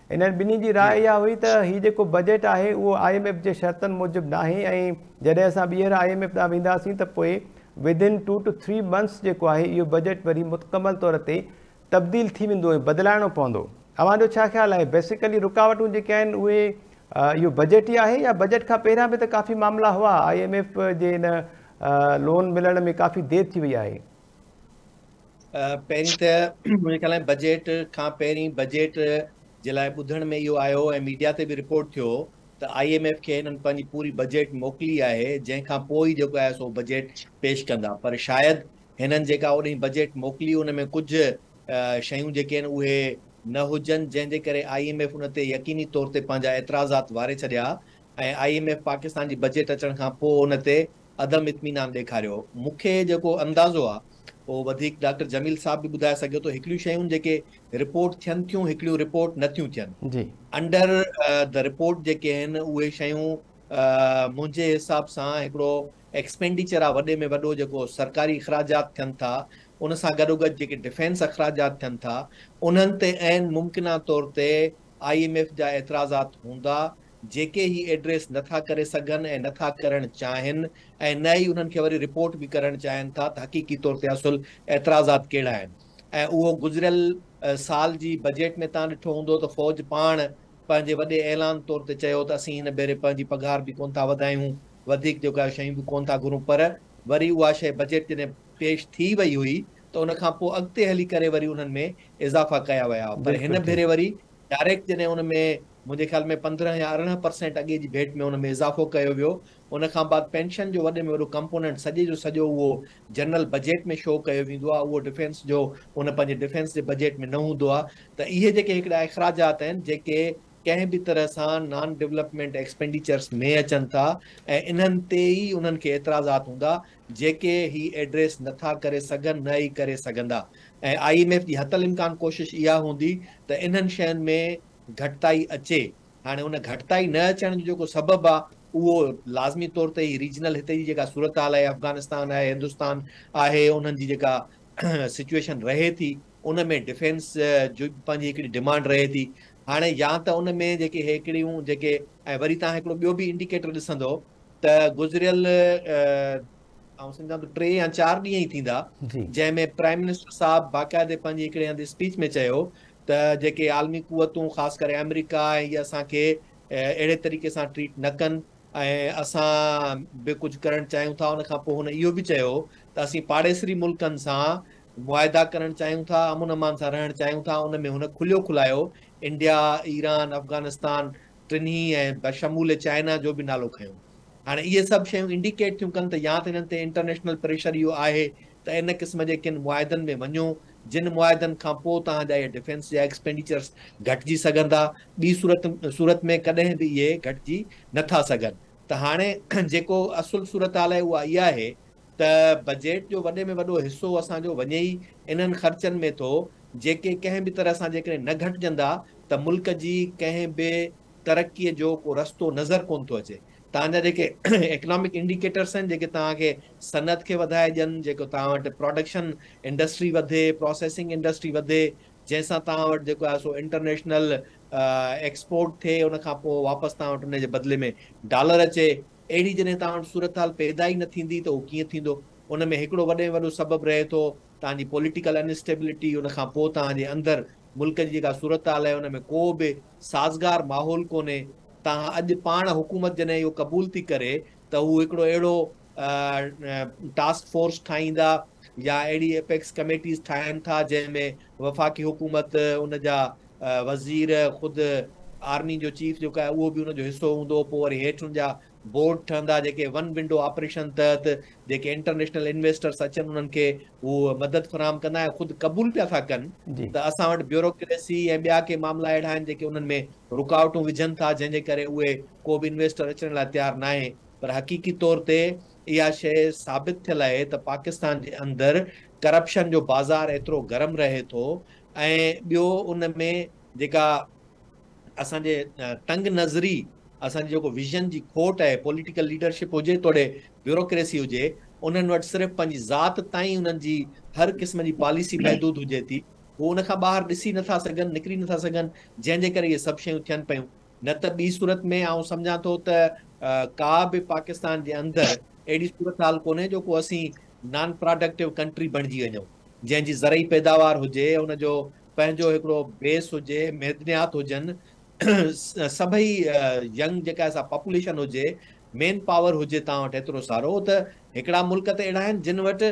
انهن ٻنهي جي راء اها هئي ته هي جيڪو بجيٽ آهي اهو آء ايم ايف جي شرطن موجب ناهي ۽ جڏهن اسان ٻيهر آء ايم ايف ڏانهن وينداسين ته پوء Within Two To Three Months جيڪو آهي اهو بجيٽ وري متڪمل طور تي تبديل ٿي ويندو ۽ بدلائڻو پوندو. اوهان جو ڇا خيال آهي بيسيڪلي رڪاوٽون جيڪي آهن اهي اهو بجيٽ ئي آهي يا بجيٽ کان پهريان به ته ڪافي معاملا هئا آء ايم ايف جي ان لون ملڻ ۾ ڪافي دير ٿي وئي آهي پهرين ته منهنجي خيال ۾ بجيٽ کان پهرين بجيٽ جي لاء ٻڌڻ ۾ اهو آيو ۽ ميڊيا تي به رپورٽ ٿيو ته آئي ايم ايف کي هنن پنهنجي پوري بجيٽ موڪلي آهي جنهن کان پوء ئي جيڪو آهي سو بجيٽ پيش ڪندا پر شايد هنن جيڪا اوڏهين بجيٽ موڪلي ان ۾ ڪجهه شيون جيڪي آهن اهي نه هجن جنهن جي ڪري آئي ايم ايف ان تي يقيني طور تي پنهنجا اعتراضات واري ڇڏيا ۽ آئي ايم ايف پاڪستان جي بجيٽ اچڻ کان پوء ان تي عدم اطمينان ڏيکاريو. مون کي جيڪو اندازو آ اهو وڌيڪ ڊاڪٽر جميل صاحب به ٻڌائي سگهيو ٿو. هڪڙيون شيون جيڪي رپورٽ ٿين ٿيون هڪڙيون رپورٽ نه ٿيون ٿين. انڊر دي رپورٽ جيڪي آهن اهي شيون منهنجي حساب سان هڪڙو ايڪسپينڊيچر آ وڏي ۾ وڏو جيڪو سرڪاري اخراجات ٿين ٿا ان سان گڏوگڏ جيڪي ڊفينس اخراجات ٿين ٿا انهن تي عين ممڪنه طور تي آء ايم ايف جا اعتراضات هوندا جيڪي هي ايڊريس نه ٿا ڪري سگهن ۽ نه ٿا ڪرڻ چاهين ۽ نه ئي انهن کي وري رپورٽ به ڪرڻ چاهين ٿا ته حقيقي طور تي اصل اعتراضات ڪهڙا آهن ۽ اهو گذريل سال جي بجيٽ ۾ تان ڏٺو هوندو ته فوج پاڻ پنهنجي وڏي اعلان طور تي چيو ته اسين هن ڀيري پنهنجي پگهار به ڪونه ٿا وڌايون وڌيڪ جو ڪا شيون به ڪونه ٿا گهرون پر وري اها شيء بجيٽ جڏهن پيش ٿي وئي هئي ته ان کان پوء اڳتي هلي ڪري وري انهن ۾ اضافا ڪيا ويا پر هن ڀيري وري ڊائريڪٽ جڏهن ان ۾ منهنجي خيال ۾ پندرهن يا ارڙهن پرسينٽ اڳي جي ڀيٽ ۾ ان ۾ اضافو ڪيو ويو ان کان بعد پينشن جو وڏي ۾ وڏو ڪمپونينٽ سڄي جو سڄو اهو جنرل بجيٽ ۾ شو ڪيو ويندو آهي اهو ڊفينس جو ان پنهنجي ڊفينس جي بجيٽ ۾ نه هوندو آهي ته اهي جيڪي هڪڙا اخراجات آهن جيڪي ڪنهن به طرح سان نان ڊولپمينٽ ايڪسپينڊيچرس ۾ اچن ٿا ۽ انهن تي ئي انهن کي اعتراضات هوندا جيڪي هي ايڊريس نه ٿا ڪري سگهن نه ئي ڪري سگهندا ۽ آء ايم ايف جي حتل امڪان ڪوشش اها هوندي ته انهن شين ۾ گهٽتائي اچي هاڻي ان گهٽتائي نه اچڻ جو جيڪو سبب آ اهو لازمي طور تي هي ريجنل هتي جي جيڪا صورتحال آهي افغانستان آهي هندستان آهي انهن جي جيڪا سچويشن رهي ٿي ان ۾ ڊفينس جو پنهنجي هڪڙي ڊمانڊ رهي ٿي هاڻي يا ته ان ۾ جيڪي هيڪڙيون جيڪي ۽ وري تان هڪڙو ٻيو به انڊيڪيٽر ڏسندو ته گذريل آئون سمجهان ٿو ٽي يا چار ڏينهن ئي ٿيندا جنهن ۾ پرائم منسٽر صاحب باقاعدي پنهنجي هڪڙي هنڌ اسپيچ ۾ چيو ته جيڪي عالمي قوتون خاص ڪري آمريڪا هي اسان کي اهڙي طريقي سان ٽريٽ نه ڪن ۽ اسان به ڪجهه ڪرڻ چاهيون ٿا ان کان پوء هن اهو به چيو ته اسين پاڙيسري ملڪن سان معاهدا ڪرڻ چاهيون ٿا امن امان سان رهڻ چاهيون ٿا ان ۾ هن کليو کلايو انڊيا ايران افغانستان ٽنهي ۽ بشمول چائنا جو به نالو کنيو. هاڻي اهي سڀ شيون انڊيڪيٽ ٿيون ڪن ته يا ته هنن تي انٽرنيشنل پريشر اهو آهي ته ان قسم جي ڪن معاهدن ۾ وڃو جن معاهدن کان پوء توهان جا اهي ڊفينس جا ايڪسپينڊيچرس گهٽجي سگهندا ٻي صورت صورت ۾ ڪڏهن به اهي گهٽجي نه ٿا سگهن ته هاڻي جيڪو اصل صورتحال آهي اها اها آهي ته بجيٽ جو وڏي ۾ وڏو حصو اسان جو وڃي ئي انهن خرچن ۾ ٿو، جيڪي ڪنهن به طرح سان جيڪڏهن نه گهٽجندا ته ملڪ جي ڪنهن به ترقي جو ڪو رستو نظر ڪونه ٿو اچي. توهان جا جيڪي اڪنامڪ انڊيڪيٽرس آهن، جيڪي توهان کي صنعت کي وڌائي ڏين، جيڪو توهان وٽ پراڊڪشن انڊسٽري وڌي، پراسيسنگ انڊسٽري وڌي، جنهن سان توهان وٽ جيڪو آهي سو انٽرنيشنل ايڪسپورٽ ٿئي، ان کان پوء واپس توهان وٽ ان جي بدلي ۾ ڊالر اچي، اهڙي جڏهن توهان وٽ صورتحال پيدا ئي نه ٿيندي ته اهو ڪيئن ٿيندو؟ ان ۾ هڪڙو وڏي ۾ وڏو سبب رهي ٿو توهان جي پوليٽيڪل ان اسٽيبلٽي، ان کان پوء توهان جي اندر ملڪ جي جيڪا صورتحال آهي ان ۾ ڪو به سازگار ماحول ڪونهي، توهان اڄ پاڻ حڪومت جڏهن اهو قبول ٿي ڪري ته هو هڪڙو اهڙو ٽاسڪ فورس ٺاهيندا يا اهڙي اپيڪس ڪميٽيز ٺاهين ٿا جنهن ۾ وفاقي حڪومت ان جا وزير خود آرمي جو چيف جيڪو آهي اهو به ان جو حصو هوندو پوء وري هيٺ ان جا بورڊ ٺهندا جيڪي ون ونڊو آپريشن تحت جيڪي انٽرنيشنل انويسٽرس اچن انهن کي هو مدد فراهم ڪندا ۽ خود قبول پيا ٿا ڪن ته اسان وٽ بيوروڪريسي ۽ ٻيا ڪي معاملا اهڙا آهن جيڪي انهن ۾ رڪاوٽون وجهن ٿا جنهن جي ڪري اهي ڪو به انويسٽر اچڻ لاء تيار ناهي پر حقيقي طور تي اها شيء ثابت ٿيل آهي ته پاڪستان جي اندر ڪرپشن جو بازار ايترو گرم رهي ٿو ۽ ٻيو ان ۾ جيڪا اسان جي تنگ نظري اسان جي جيڪو ويزن جي کوٽ آهي پوليٽيڪل ليڊرشپ هجي توڙي بيوروڪريسي هجي انهن وٽ صرف پنهنجي ذات تائين انهن جي هر قسم جي پاليسي محدود هجي ٿي هو ان کان ٻاهر ڏسي نٿا سگهن نڪري نٿا سگهن جنهن جي ڪري اهي سڀ شيون ٿين پيون نه ته ٻي صورت ۾ آئون سمجهان ٿو ته ڪا به پاڪستان جي اندر اهڙي صورتحال ڪونهي جو ڪو اسين نان پراڊڪٽو ڪنٽري بڻجي وڃون جنهن جي زرعي پيداوار هجي، ان جو پنهنجو هڪڙو بيس هجي، معدنيات هجن، سڀئي ينگ جيڪا سا پاپوليشن هجي، مين پاور هجي توهان وٽ ايترو سارو ته هڪڙا ملڪ ته اهڙا آهن جن وٽ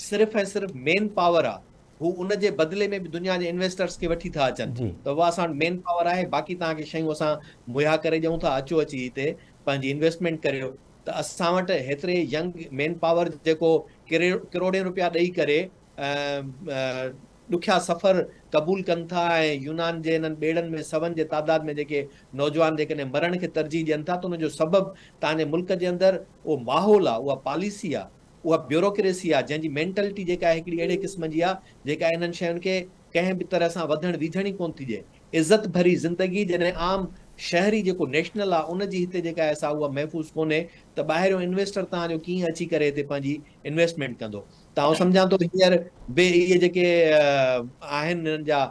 صرف ۽ صرف مين پاور آ، هو ان جي بدلي ۾ به دنيا جي انويسٽرس کي وٺي ٿا اچن ته واهه اسان وٽ مين پاور آهي باقي توهان کي شيون اسان مهيا ڪري ڏيون ٿا اچو اچي هتي پنهنجي انويسٽمينٽ ڪريو. ته اسان وٽ هيتري ينگ مين پاور جيڪو ڪروڙين روپيا ڏئي ڪري ڏکيا سفر قبول ڪن ٿا ۽ يونان جي انهن ٻيڙن ۾ سون جي تعداد ۾ جيڪي نوجوان جيڪڏهن مرڻ کي ترجيح ڏين ٿا ته ان جو سبب توهان جي ملڪ جي اندر اهو ماحول آهي اها پاليسي آهي اها بيوروڪريسي آهي جنهن جي مينٽلٽي جيڪا آهي هڪڙي اهڙي قسم جي آهي جيڪا انهن شين کي ڪنهن به طرح سان وڌڻ ويجهڻ ئي ڪونه ٿي ڏئي عزت ڀري زندگي جڏهن عام شهري جيڪو نيشنل آ ان جي هتي جيڪا احسا اها محفوظ ڪونهي ته ٻاهريون انويسٽر توهان جو ڪيئن اچي ڪري هتي پنهنجي انويسٽمينٽ ڪندو ته آئون سمجهان ٿو هينئر به اهي جيڪي آهن هنن جا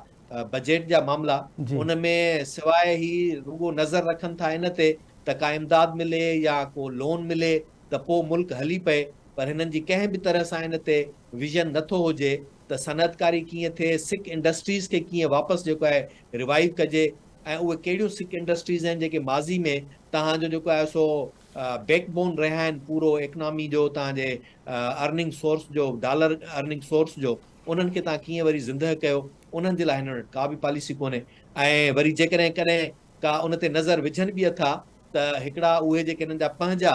بجيٽ جا معاملا ان ۾ سواء هي رڳو نظر رکن ٿا ان تي ته ڪا امداد ملي يا ڪو لون ملي ته پوء ملڪ هلي پئي پر هنن جي ڪنهن به طرح سان ان تي ويزن نٿو هجي ته صنعتڪاري ڪيئن ٿئي، سک انڊسٽريز کي ڪيئن واپس جيڪو آهي ريوائيو ڪجي ۽ اهي ڪهڙيون سک انڊسٽريز آهن جيڪي ماضي ۾ توهان جو جيڪو آهي سو بيڪ بون رهيا آهن پورو اڪنامي جو توهان جي ارننگ سورس جو ڊالر ارننگ سورس جو انهن کي توهان ڪيئن وري زندهه ڪيو انهن جي لاء هنن وٽ ڪا به پاليسي ڪونهي ۽ وري جيڪڏهن ڪڏهن ڪا ان تي نظر وجهن به اٿا ته هڪڙا اهي جيڪي هنن جا پنهنجا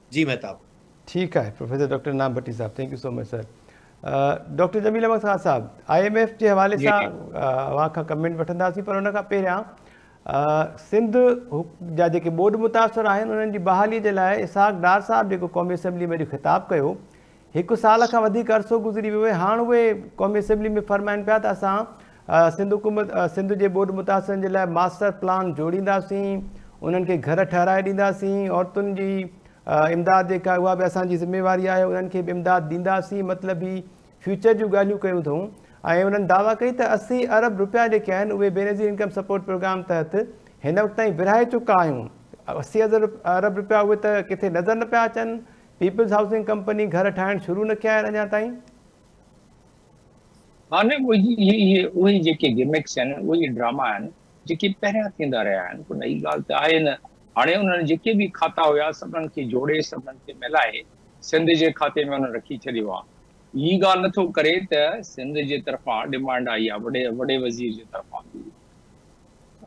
جي مهتاب. ٺيڪ آهي پروفيسر ڊاڪٽر انعام ڀٽي صاحب thank you so much sir doctor Jamil Ahmed Khan صاحب آء ايم ايف جي حوالي جي، سان جي. اوهان کان ڪمينٽ وٺنداسين پر ان کان پهريان سنڌ جا جيڪي ٻوڏ متاثر آهن انهن جي بحالي جي لاء اسحاق ڊار صاحب جيڪو قومي اسيمبلي ۾ اڄ خطاب ڪيو هڪ سال کان وڌيڪ عرصو گذري ويو آهي هاڻ اهي قومي اسيمبلي ۾ فرمائن پيا ته اسان سنڌ حڪومت سنڌ جي ٻوڏ متاثرن جي لاء ماسٽر پلان جوڙينداسين انهن کي گهر ٺهرائي ڏينداسين عورتن جي امداد جيڪا اها به اسان جي ذميواري آهي انهن کي به امداد ڏينداسين مطلب هي فيوچر جون ڳالهيون ڪيون اٿئون ۽ انهن دعويٰ ڪئي ته اسي ارب روپيا جيڪي آهن اهي بينظير انڪم سپورٽ پروگرام تحت هن وقت تائين ورهائي چڪا آهيون اسي ارب روپيا اهي ته ڪٿي نظر نه پيا اچن پيپلز هائوسنگ ڪمپني گهر ٺاهڻ شروع نه ڪيا آهن اڃا تائين. ها نه اهي اهي اهي جيڪي گمڪس آهن اهي ڊراما آهن جيڪي پهريان ٿيندا رهيا آهن ڪو نئي ڳالهه ته آهي نه هاڻي انهن جيڪي به کاتا هيا سڀنن کي جوڙي سڀنن کي ملائي سنڌ جي کاتي ۾ انهن رکي ڇڏيو آهي هي ڳالهه نٿو ڪري ته سنڌ جي طرفان ڊمانڊ آئي آهي وڏي وزير جي طرفان به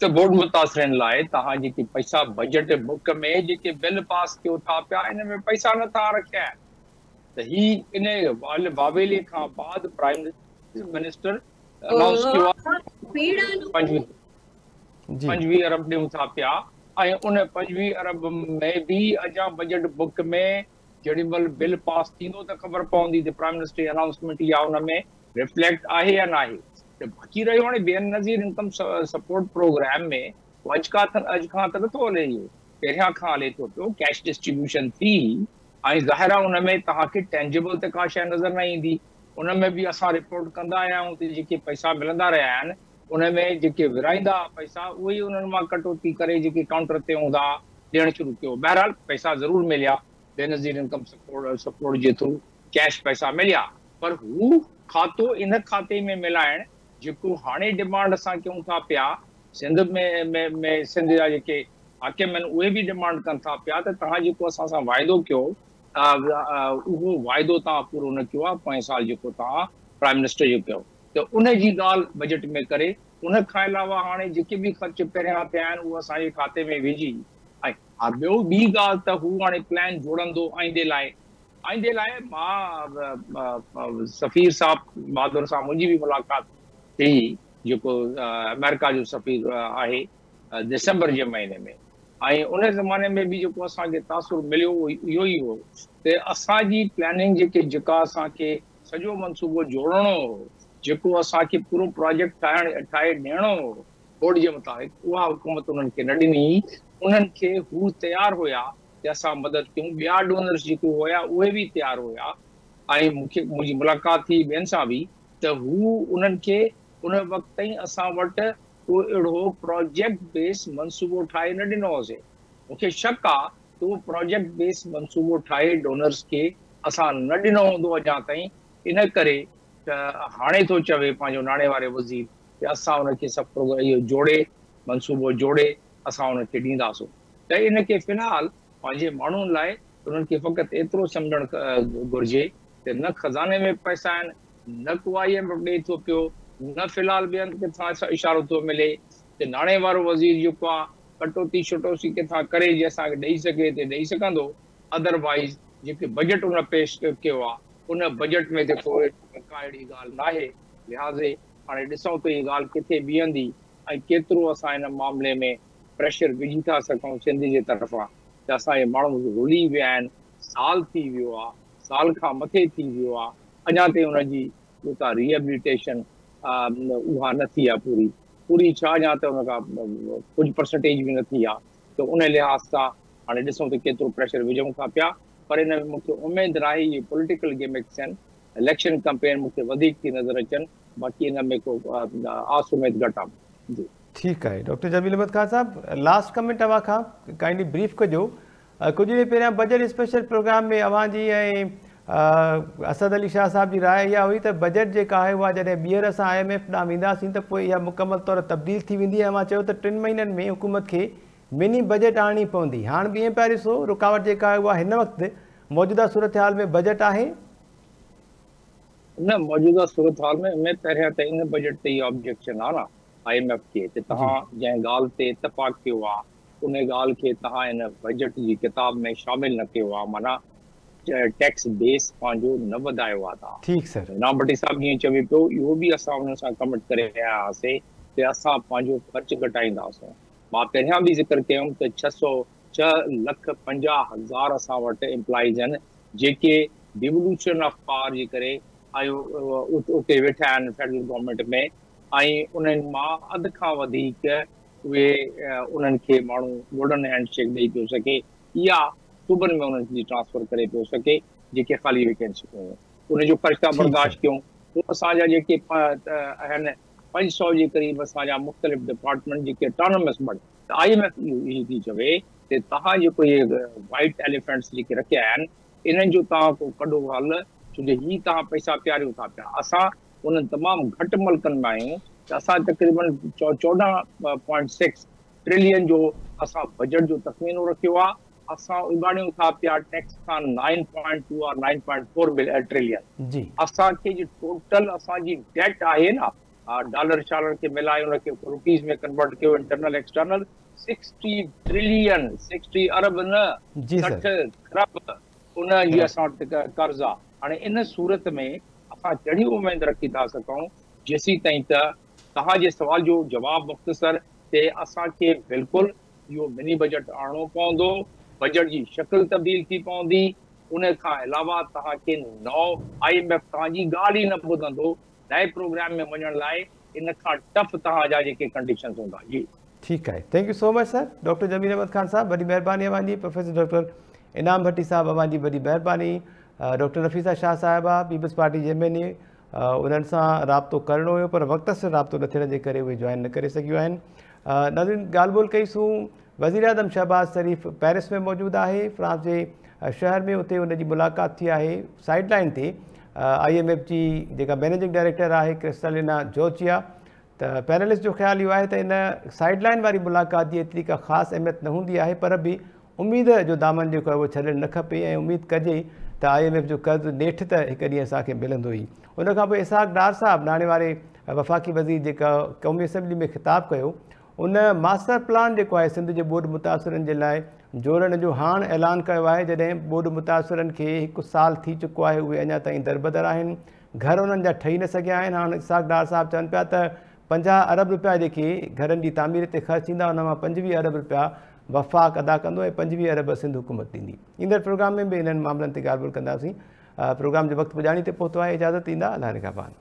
ته گوڙ متاثرين لاء توهان جيڪي پئسا بجيٽ بڪ ۾ جيڪي بل پاس ڪيو ٿا پيا ان ۾ پئسا نه ٿا رکيا آهن ته هي ان واويلي کان بعد پرائم منسٽر انائونس ڪيو آهي پنجويهه ارب ڏيون ٿا پيا ۽ ان پنجويهه ارب ۾ به اجان بجيٽ بڪ ۾ جهڙي مهل بل پاس ٿيندو ته خبر پوندي ته پرائيم منسٽر جي انائونسمينٽ اها ان ۾ ريفليڪٽ آهي يا ناهي ته باقي رهيو هاڻي Benazir income support programme ۾ اڄ کا اڄ کان ته نٿو هلي اهو پهريان کان هلي ٿو پيو ڪيش ڊسٽريبيوشن ٿي ۽ ظاهر آهي ان ۾ توهان کي ٽينجبل ته ڪا شيء نظر نه ايندي ان ۾ به اسان رپورٽ ڪندا آيا آهيون ته جيڪي پئسا ملندا رهيا آهن ان ۾ جيڪي ورهائيندا ها پئسا، اهي ئي انهن مان ڪٽوتي ڪري جيڪي ڪائونٽر تي هوندا ها، ڏيڻ شروع ڪيو. بهرحال پئسا ضرور مليا. بينظير انڪم سپورٽ جي ٿرو ڪيش پئسا مليا، پر هو کاتو ان کاتي ۾ ملائڻ، جيڪو هاڻي ڊمانڊ اسان ڪيون ٿا پيا، سنڌ ۾ سنڌ جا جيڪي حاڪم آهن، اهي به ڊمانڊ ڪن ٿا پيا ته توهان جيڪو اسان سان واعدو ڪيو ها، اهو واعدو توهان پورو نه ڪيو ها، پوئين سال جيڪو توهان پرائيم منسٽر جو ڪيو. ته ان جي ڳالهه بجيٽ ۾ ڪري، ان کان علاوه هاڻي جيڪي به خرچ پهريان ٿيا آهن اهي اسان جي کاتي ۾ وجهي ۽ ها ٻيو ٻي ڳالهه ته هو هاڻي پلان جوڙندو آئيندي لاء، آئيندي لاء مان سفير صاحب بهادر سان منهنجي به ملاقات ٿي جيڪو آمريڪا جو سفير آهي دسمبر جي مهيني ۾ ۽ ان زماني ۾ به جيڪو اسان کي تاثر مليو اهو اهو ئي هو ته اسان جي پلاننگ جيڪي جيڪا اسان کي سڄو منصوبو جوڙڻو هو، جيڪو اسان کي پورو پراجيڪٽ ٺاهي ڏيڻو هو، بورڊ جي مطابق اها حڪومت انهن کي نه ڏني، انهن کي هو تيار هيا ته اسان مدد ڪيون، ٻيا ڊونرز جيڪي هيا اهي به تيار هيا ۽ مون کي منهنجي ملاقات ٿي ٻين سان به ته هو انهن کي ان وقت تائين اسان وٽ ڪو اهڙو پراجيڪٽ بيس منصوبو ٺاهي نه ڏنو هوسي، مون کي شڪ آ تون پراجيڪٽ بيس منصوبو ٺاهي ڊونرز کي اسان نه ڏنو هوندو اڃا تائين ان ڪري ته هاڻي ٿو چوي پنهنجو ناڻي واري وزير ته اسان ان کي سڀ پروگرام اهو جوڙي منصوبو جوڙي اسان ان کي ڏينداسون ته ان کي في الحال پنهنجي ماڻهن لاء انهن کي فقط ايترو سمجهڻ گهرجي ته نه خزاني ۾ پئسا آهن نه ڪو آء ايم ايف ڏئي ٿو پيو نه في الحال ٻين ڪٿان اشارو ٿو ملي جي ناڻي وارو وزير جيڪو آ ڪٽوتي شٽوسي ڪٿان ڪري جي اسان کي ڏئي سگهي تي ڏئي سگهندو اڌر وائيز جيڪي بجيٽ ان پيش ڪيو آ ان بجيٽ ۾ تي ڪوئي ڪا اهڙي ڳالهه ناهي لهٰذي هاڻي ڏسون ته هي ڳالهه ڪٿي بيهندي ۽ ڪيترو اسان ان معاملي ۾ پريشر وجهي ٿا سگهون سنڌ جي طرفان ته اسان جي ماڻهو رلهي ويا آهن سال ٿي ويو آ سال کان مٿي ٿي ويو آ اڃا تائين ان جي جيڪا ري ايبليٽيشن آ اها نه ٿي آ پوري پوري ڇا يا ته ان کان ڪجهه پرسنٽيج به نه ٿي آ ته ان لحاظ سان هاڻي ڏسون ته ڪيترو پريشر وجهون ٿا پيا پر ان ۾ مون کي اميد راهي اهي پوليٽيڪل گيمڪس ۽ اليڪشن ڪمپين مون کي وڌيڪ ٿي نظر اچن باقي ان ۾ ڪو آس اميد گهٽ آ جي. ٺيڪ آهي ڊاڪٽر جميل احمد خان صاحب لاسٽ ڪمينٽ اوهان کان ڪائنڊلي بريف ڪجو ڪجهه ڏينهن پهريان بجيٽ اسپيشل پروگرام ۾ اوهان جي ۽ اسد علي شاهه صاحب جي راء اها هئي ته بجيٽ جيڪا آهي اها جڏهن ٻيهر اسان آء ايم ايف ڏانهن وينداسين ته پوء اها مڪمل طور تبديل ٿي ويندي ۽ اوهان چيو ته ٽن مهينن ۾ حڪومت کي مني بجيٽ آڻڻي پوندي هاڻ به ائين پيا ڏسو رڪاوٽ جيڪا آهي اها هن وقت موجوده صورتحال ۾ بجيٽ آهي نه موجوده صورتحال ۾ ۾ پهريان ته ان بجيٽ تي اها آبجيڪشن آهي نه آء ايم ايف کي ته توهان جنهن ڳالهه تي اتفاق ڪيو آهي انهي ڳالهه کي توهان هن بجيٽ جي ڪتاب ۾ شامل نه ڪيو آ معنيٰ ٽيڪس بيس پنهنجو نه وڌايو آ توهان. ٺيڪ سر. جناب ڀٽي صاحب جيئن چوي پيو اهو به اسان انهن سان ڪمٽ ڪري آيا هئاسي ته اسان پنهنجو خرچ گهٽائينداسون مان پهريان به ذڪر ڪيو هيم ته ڇهه سؤ ڇهه لک پنجاهه هزار اسان وٽ امپلائيز آهن جيڪي ڊيولوشن آف پاور جي ڪري اتي ويٺا آهن فيڊرل گورنمينٽ ۾ ۽ انهن مان اڌ کان وڌيڪ اهي انهن کي ماڻهو گولڊن هينڊ شيڪ ڏئي پيو سگهي يا صوبن ۾ انهن جي ٽرانسفر ڪري پيو سگهي جيڪي خالي ويڪنسيون هيون ان جو خرچ ٿا برداشت ڪيون پوء اسان جا جيڪي آهن پنج سؤ جي قريب اسان جا مختلف ڊپارٽمينٽ جيڪي اٽانومس بڻ ته آء ايم ايف اهو ئي ٿي چوي ته توهان جيڪو اهي وائٽ ايليفينٽس جيڪي رکيا آهن انهن جو توهان ڪو ڪڍو حل ڇو جو هي توهان پئسا پياريو ٿا پيا اسان انهن تمام گهٽ ملڪن مان آهيون ته اسان تقريبن چوڏهن پوائنٽ سڪس ٽرلين جو اسان بجيٽ جو تخمينو رکيو آهي، اسان اڳاڙيون ٿا پيا ٽيڪس کان nine point two or nine point four trillion اسان کي جي ٽوٽل اسان جي ڊيٽ آهي نه ڊالر شالر کي ملائي ان کي روپيز ۾ ڪنورٽ ڪيو internal external sixty trillion sixty ارب نه سٺ کرب ان جي اسان وٽ قرض آهي. هاڻي ان صورت ۾ اسان ڪهڙي اميد رکي ٿا سگهون جيسيتائين ته توهان جي سوال جو جواب مختصر ٿئي اسان کي بلڪل اهو مني بجيٽ آڻڻو پوندو بجيٽ جي شڪل تبديل ٿي پوندي ان کان علاوه توهان کي نئون آء ايم ايف توهان جي ڳالهه ئي نه ٻڌندو لائيو پروگرام ۾ وڃڻ لاء ان کان ٽف توهان جا جيڪي ڪنڊيشنز هوندا جي. ٺيڪ آهي thank you so much sir doctor Jamil Ahmed Khan صاحب وڏي مهرباني اوهان جي پروفيسر ڊاڪٽر انعام ڀٽي صاحب اوهان جي وڏي مهرباني ڊاڪٽر نفيسا شاهه صاحبه پيپلز پارٽي جي ايم اين اي انهن سان رابطو ڪرڻو هيو پر وقت سر رابطو نه ٿيڻ جي ڪري اهي جوائن نه ڪري سگهيون آهن ناظرين ڳالهه ٻولهه ڪئي سون وزيراعظم شهباز شريف پيرس ۾ موجود آهي، فرانس جي شهر ۾ اتي ان جي ملاقات ٿي آهي، سائيڊ لائين تي آء ايم ايف جي جيڪا مئنيجنگ ڊائريڪٽر آهي ڪرسٽالينا جورجيا ته پيرلس جو خيال اهو آهي ته ان سائيڊ لائين واري ملاقات جي ايتري ڪا خاص اهميت نه هوندي آهي پر به اميد جو دامن جيڪو آهي اهو ڇڏڻ نه کپي ۽ اميد ڪجي ته آء ايم ايف جو قرض نيٺ ته هڪ ڏينهن اسان کي ملندو ئي ان کانپوء اسحاق ڊار صاحب ناڻي واري وفاقي وزير جيڪا قومي اسيمبلي ۾ خطاب ڪيو ان ماسٽر پلان جيڪو آهي سنڌ جي ٻوڏ متاثرن جي لاء جوڙڻ جو هاڻ اعلان ڪيو آهي جڏهن ٻوڏ متاثرن کي هڪ سال ٿي چڪو آهي اهي اڃا تائين دربدر آهن گهر انهن جا ٺهي نه سگهيا آهن هاڻ اسحاق ڊار صاحب چون پيا ته پنجاهه ارب روپيا جيڪي گهرن جي تعمير تي خرچ ٿيندا ان مان پنجويهه ارب روپيا وفاق ادا ڪندو ۽ پنجويهه ارب سنڌ حڪومت ڏيندي ايندڙ پروگرام ۾ به انهن معاملن تي ڳالهه ٻولهه ڪنداسين پروگرام جو وقت پڄاڻي تي پهتو آهي اجازت ايندا الله نگهبان